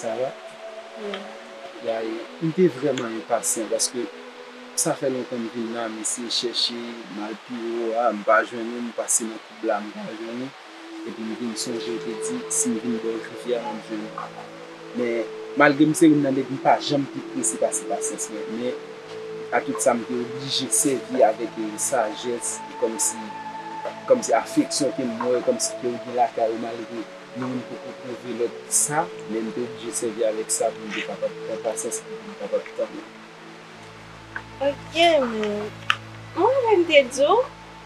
Sa va? Yaye, m te vrèman enpasyan paske sa fè lontan m vin la, m eseye chèche, m al pi wo a, m pa jwenn ou, m pase nan koub la, m pa jwenn ou. Epi m vin sonje l te di si m vin bò Jodi a m ap jwenn Aba. Men, malgre m se youn nan nèg m pa janm pi prese pase pasyans mwen, men, atout sa m te oblije sèvi avèk sajès e kòmsi kòmsi afeksyon ke m wè kòmsi ke ou gen lakay ou malgre nou youn poko pwouve lòt sa, men m te oblije sèvi avèk sa pou m te kapab pran pasyans epi pou m kapab tann ou. Ok, m. Mwen menm te di w,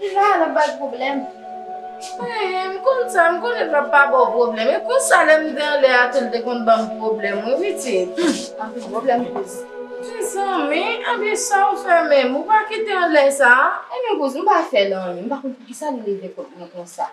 Deja lap bay pwoblèm. Eeh m konn sa m konnen lap pa baw pwoblèm e konsa lèm t anlè a tou l t konn banm pwoblèm wi pitit. Humm anpil pwoblèm kouz. Mezanmi ebyen saw fè menm ou pa kite anlè sa. Ebyen kouz m pa fèl anyen m pa konn poukisa li leve kont mwen konsa.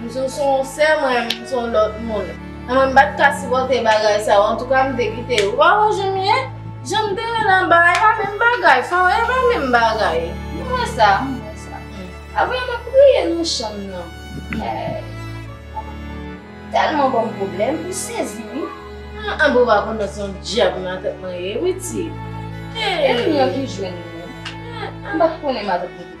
Msou sou yon sè mwen menm sou yon lòt moun. Nan mwen mpat ka sipòte bagay sa yo antouka mte kite yo. Ou pa wè janm ye? Janm te ye nan ba epa menm bagay fanm epa menm bagay. Mwen wè sa mwen wè sa. Aprè map kriye nan chanm nan. Tèlman banm pwoblèm ou sezi wi. Anhh bon pa kontan son dyab nan tèt mwen ye wi ti. Epi mwen ki jwenn nou. Mpat konnen madanm.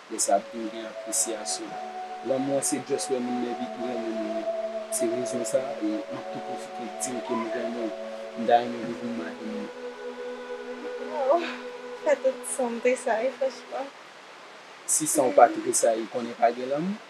Lè sa ap vin gen apresyasyon. Lanmou an se just lè moun nan epi tou renmen moun nan. Se rezon sa e map tou pwofite diw ke m renmen w. M ta renmen pou w vin madanm mwen. Waww pa tout sanm tresayi franchman. Si sanw pa tresayi konnen pa gen lanmou.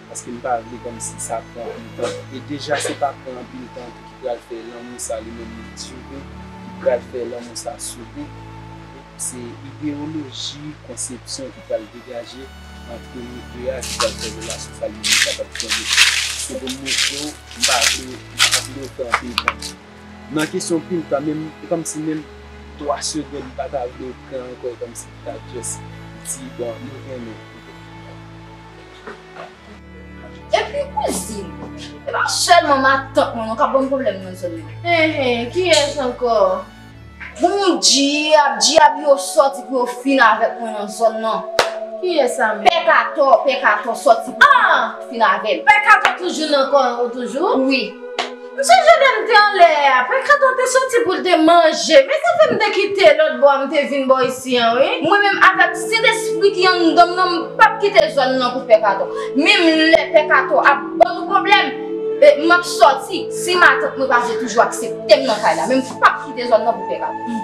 paske m pa vle kòmsi sa pran anpil tan e deja se pa pran anpil tan ki pral fè lanmou sa li menm li dire ki pral fè lanmou sa sove se ideyoloji konsepsyon ki pral degaje antre nou 2 a ki pral fè relasyon sa li menm kapab kenbe se pou m montre w m pa vle m pa vle w pran anpil tan nan kesyon pil tan menm e kòmsi menm 3 segond m pa ta vle w pran ankò e kòmsi pou ta just di bon nou renmen Epi kouzin, e pa sèlman matant mwen non k ap ban m pwoblèm nan zòn nan. Enhen, kiyès ankò? Bon dyab, dyab yo sòti pou yo fin avèk mwen nan zòn nan. Kiyès sa menm? Pè Katò, Pè Katò sòti pou yo fin avè m. Pè Katò toujou nan kò an ou toujou? Wi. Msye Jordan te anlè a, Pankrat lan te soti pou l te manje. Men sa fè m te kite lòt bò a m te vin bò isi an wi. Mwen menm avèk Sentespri ki anndan m nan m pap kite zòn nan pou Pè Kato. Menm lè Pè Kato ap ban nou pwoblèm, m ap soti si matant mwen pa vle toujou aksepte m nan kay la. Men m pap kite zòn nan pou Pè Kato.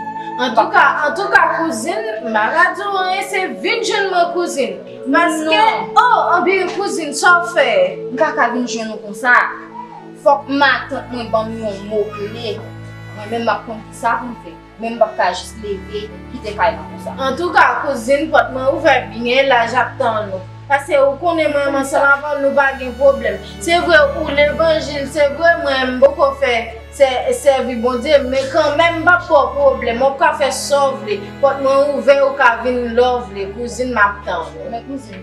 Antouka, antouka kouzin, maradi w an ese vin jwenn mwen kouzin. Paske, o! Anben kouzin, sa w fè? M pa ka vin jwenn ou konsa. Fòk matant mwen banm yon mo kle, mwen menm map konn kisa poum fè, menm pap ka jis leve kite kay la konsa. Antouka kouzin pòt mwen ouvè byen laj ap tann ou, pase ou konnen mwen menm ansanm avèw nou pa gen pwoblèm, se vre ou levanjil se vre mwen mpoko fè sèvi Bondye men kanmenm mpap baw pwoblèm wap ka fè sa w vle pòt mwen ouvè ou ka vin lè w vle kouzin map tann ou.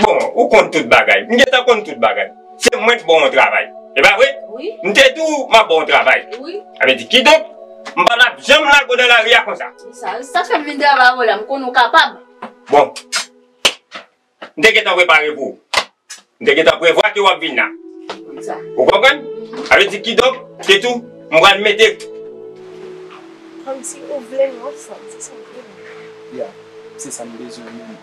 Bon, ou konn tout bagay. M gentan konn tout bagay. Se mwen k ba w yon travay. E pa vre? Wi. M te di w m ap ba w yon travay. Wi. A vle di, kidonk, m pa t ap janm lage w nan lari a konsa. Ki sa? Se sa k fè m vin travay avè w la. M konnen w kapab. Bon. M te gentan prepare pou w. M te gentan prevwa ke w ap vin la. Ki sa? Ou konprann? A vle di, kidonk, se tou, m pral mete. Kòmsi ou vle m yon fanm. Se sa w vle m. Ya. Se sa m bezwen menm.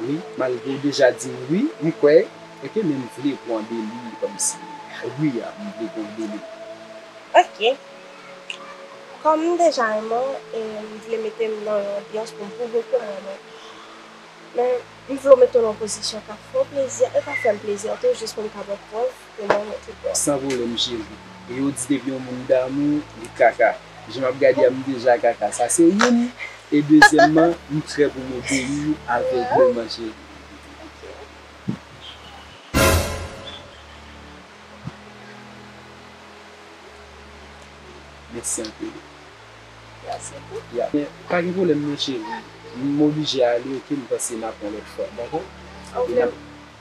Wi malgre ou deja dim wi m kwè ok men m vle pwan deli komsi wi a m vle pwan deli. Ok Kom m deja renmen w e m vle mete m nan yon anbyans pou m pwouve ke m renmen w men m vle w mete w nan yon pozisyon kap fè w plezi a e kap fè m plezi a tou jis pou m ka ba w prèv San volèm cheri. E yo di depi yon moun damou li kaka. Jan map gade a m deja kaka. Sa se youn. E dezyèmman m prè pou m obeyi ou avègleman cheri. Mèsi anpil. Pa gen pwoblèm non cheri. M oblije ale ok m panse n ap yon lòt fwa. Dakò?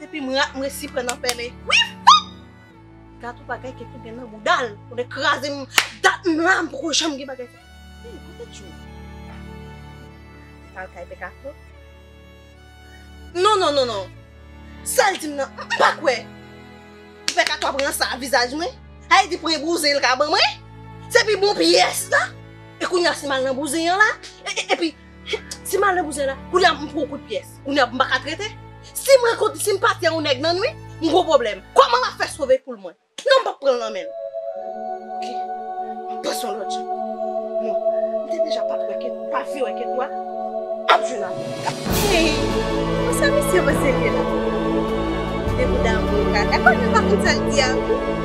Depi m rat m resi pran nan pèlen wi fok Dat ou bagay kèk gen nan boudal ou de kraze m Dat m la m poko janm gen bagay Hey kote tjou Al kay pè kato Non non non non Sal di m nan m pa kwè Pè kato ap ransa a vizaj mwen Hey di premye bouzen l ka ban mwen Se pi bon pyès la E kounya si m al nan bouzen an la Epi Ti malè bouzen la, kounye a m pran yon kout pyès. Kounye a m pa ka trete. Si m rankontre, si m pati yon nèg nan nwit, m gwo pwoblèm. Kòman m ap fè sove poul mwen? Non, m p ap pran l nan men l. Ok, m ap panse yon lòt jan. Non, m te deja pa pran ket, pa vle wè ket nwa. M ap jwenn avè l. Hey! Bon sa misye panse l ye la? Li gen kou damou, kaka. Kaka konn menm pa konn sa l di a.